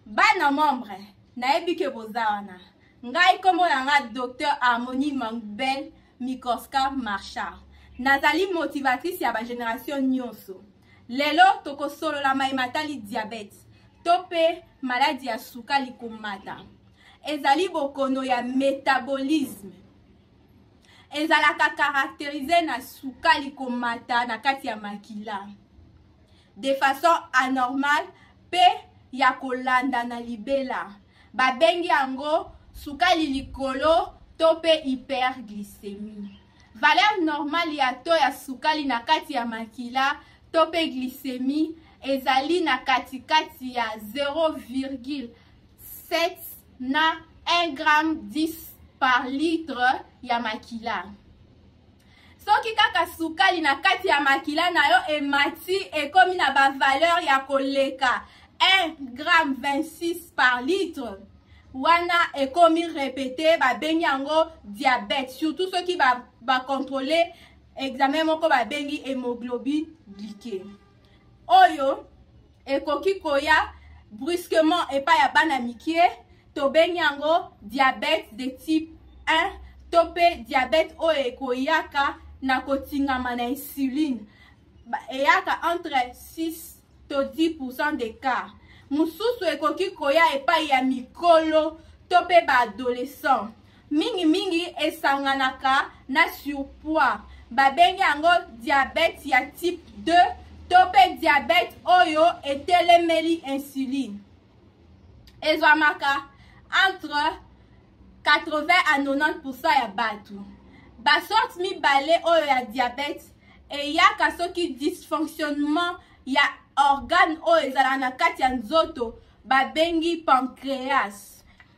bana membre nayebi ke boza wana ngai nkombo na ngai docteur harmonie mangbel mikoska marchard nazali motivatrice ya bageneration nyonso lelo tokosolola mai matali diabete to mpe maladi ya sukali komata ezali bokono ya metabolisme ezalaka caractérise na sukali komata na kati ya makila de façon anormale mpe ya kolanda na libela babengi yango sukali likolo to mpe hyperglycémie valeur normale ya to ya sukali na kati ya makila to mpe glycémie ezali na katikati ya 0, 7 na 1 gramme 10 par litre ya makila soki kaka sukali na kati ya makila na yo emati ekomi na bavaleur ya koleka 1 gramme 26 par litre wana ekomi repete babengi yango diabete surtout soki bakontrole ba examen moko babengi hemoglobine glike oyo ekoki koya brusquement epai ya bana mikie tobengi yango diabète de type 1 to mpe diabète oyo ekoyaka na kotingama na insuline eyaka entre 6 to 10 pourcent de cas mosusu ekoki koya epai ya mikolo to mpe baadolescent mingimingi esanganaka na surpoids babengi yango diabete ya type 2 to mpe diabete oyo etelemeli insuline ezwamaka entre 80 à 90 ya bato basorte mibale oyo ya diabete eyaka soki dysfonctionnement ya organe oyo ezalaka na kati ya nzoto babengi pancreas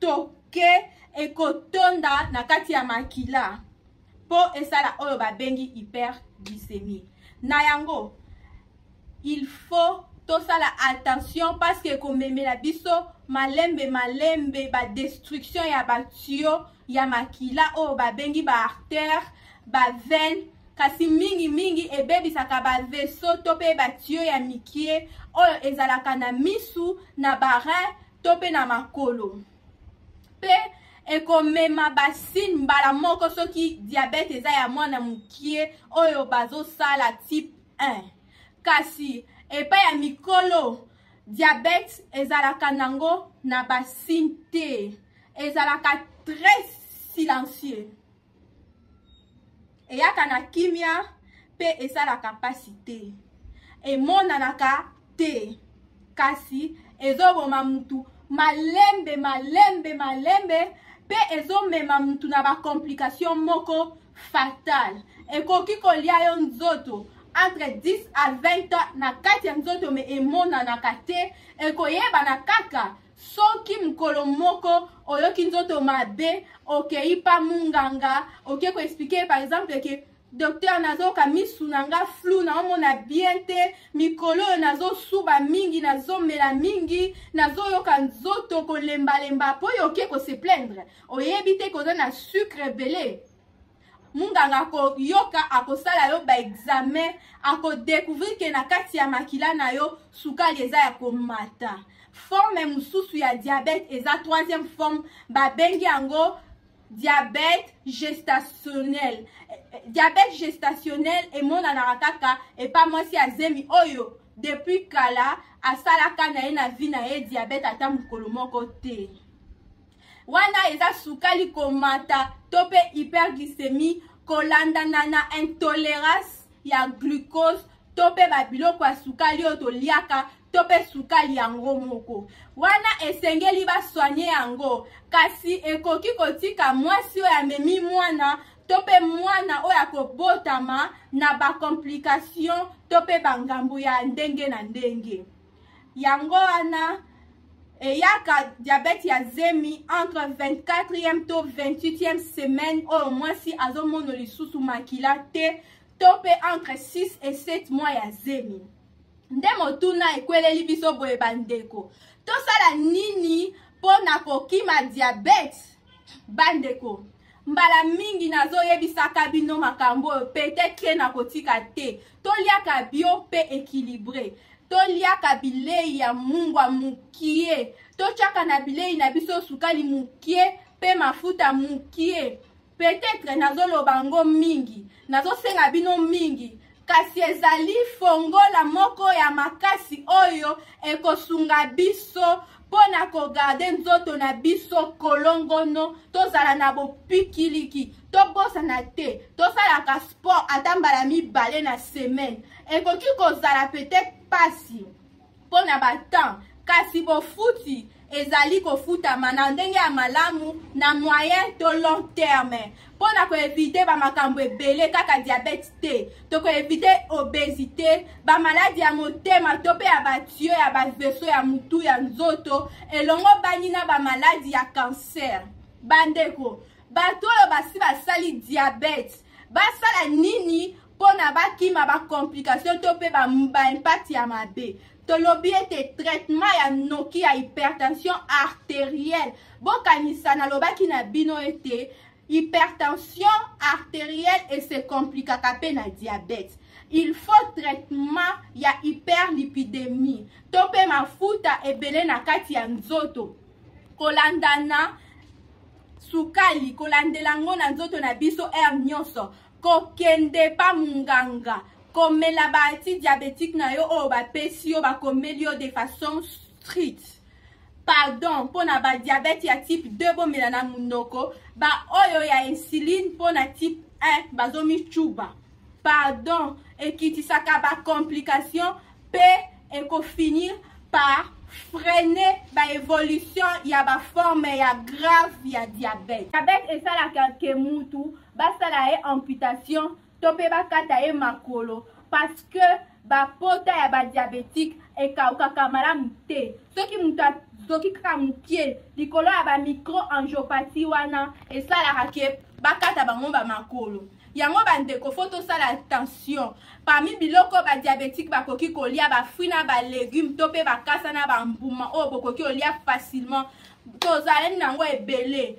toke ekotonda na kati ya makila mpo esala oyo babengi hyperglycémie na yango il faut tosala attention parce que ekomemela biso malembe malembe badestruction ya batuyo ya makila oyo babengi baartère baveine kasi mingimingi ebebisaka baveso to mpe batuyo ya mikie oyo ezalaka na misu na barin to mpe na makolo mpe ekomema basine mbala moko soki diabete eza ya mwana mokie oyo bazosala type 1 kasi epai ya mikolo diabete ezalaka nango na basine te ezalaka très silencieux eyaka na kimia mpe esalaka mpasi te emonanaka te kasi ezoboma mutu malembe malembe malembe mpe ezomema mutu na bacomplication moko fatale ekoki kolia yo nzoto entre 10 à 20 ans na kati ya nzoto me emonanaka te ekoyebana kaka soki mokolo moko oyoki nzoto mabe okei pa munganga oke koexplike par exemple ke docteur nazoyoka misu na nga flou naomona bien te mikolo oyo nazosuba mingi nazomela mingi nazoyoka nzoto kolembalemba mpo oyo oke kose plaindre oyebi te koza na sucre ebele munganga akoyoka akosala yo baexamen akodecouvrir ke na kati ya makila na yo sukali eza ya komata forme mosusu ya diabete eza troisième forme babengi yango diabete gestationnel diabete gestationnel emonanaka kaka epa mwasi ya zemi oyo depuis kala asalaka na ye na vie na ye diabete ata mokolo moko te wana eza sukali komata to mpe hyperglycemie kolandana na intolerance ya glucose to mpe babiloko ya sukali oyo toliaka to mpe sukali yango moko wana esengeli baswanye yango kasi ekoki kotika mwasi oyo amemi mwana to mpe mwana oyo akobotama na bakomplikatio to mpe bangambo ya ndenge na ndenge yango wana eyaka diabete ya zemi entre 24e to 28e semaine oyo mwasi azomono lisusu makila te to mpe entre 6 et 7 mois ya zemi nde motuna ekweleli biso boye bandeko tosala nini mpo na kokima diabete bandeko mbala mingi nazoyebisaka bino makambo oyo petetre nakotika te toliaka bio mpe ekilibre toliaka bilei ya mungwa mokie totyaka na bilei na biso sukali mokie mpe mafuta mokie petetre nazoloba yango mingi nazosenga bino mingi kasi ezali fongola moko ya makasi oyo ekosunga biso mpo na kogarde nzoto na biso kolongono tozala na bopikiliki tobosana te tosalaka sport ata mbala mibale na semaine ekoki kozala peut-être mpasi mpo na batemps kasi bofuti ezali kofutama na ndenge ya malamu na moyen to long terme mpo na koevite bamakambo ebele kaka diabete te tokoevite obesite bamaladi ya motema to mpe ya batio ya baveso ya motu ya nzoto elongo bangi na bamaladi ya kanser bandeko bato oyo basi basali diabete basala nini mpo na bakima bacomplication to mpe baimpact ya mabe tolobi ete traitement ya noki ya hypertension arterielle bokanisa nalobaki na bino ete hypertension arterielle ese komplikaka mpe na diabete il faut traitement ya hyperlipidemie to mpe mafuta ebele na kati ya nzoto kolandana sukali kolandela yango na nzoto na biso heure nyonso kokende pa munganga komela ba antidiabetique na yo oyo bapesi yo bakomeli yo de façon street pardon mpo na badiabete ya type 2 bomela na monoko baoyo ya insuline mpo na type 1 bazomicuba pardon ekitisaka bacomplication mpe ekofinir par freiner baévolution ya baforme ya grave ya diabete diabete esalaka ke mutu basala ye amputation to mpe bakata ye makolo parce que bapota ya badiabetike ekaukaka malamu te soki moto azoki kaka mokie likolo ya bamicro angiopati wana esalaka ke bakata bango bamakolo yango bandeko fo tosala attention parmi biloko badiabetike bakoki kolia bafruit na balegume to mpe bakasa na bambuma oyo bokoki kolia facilement tozalani na yango ebele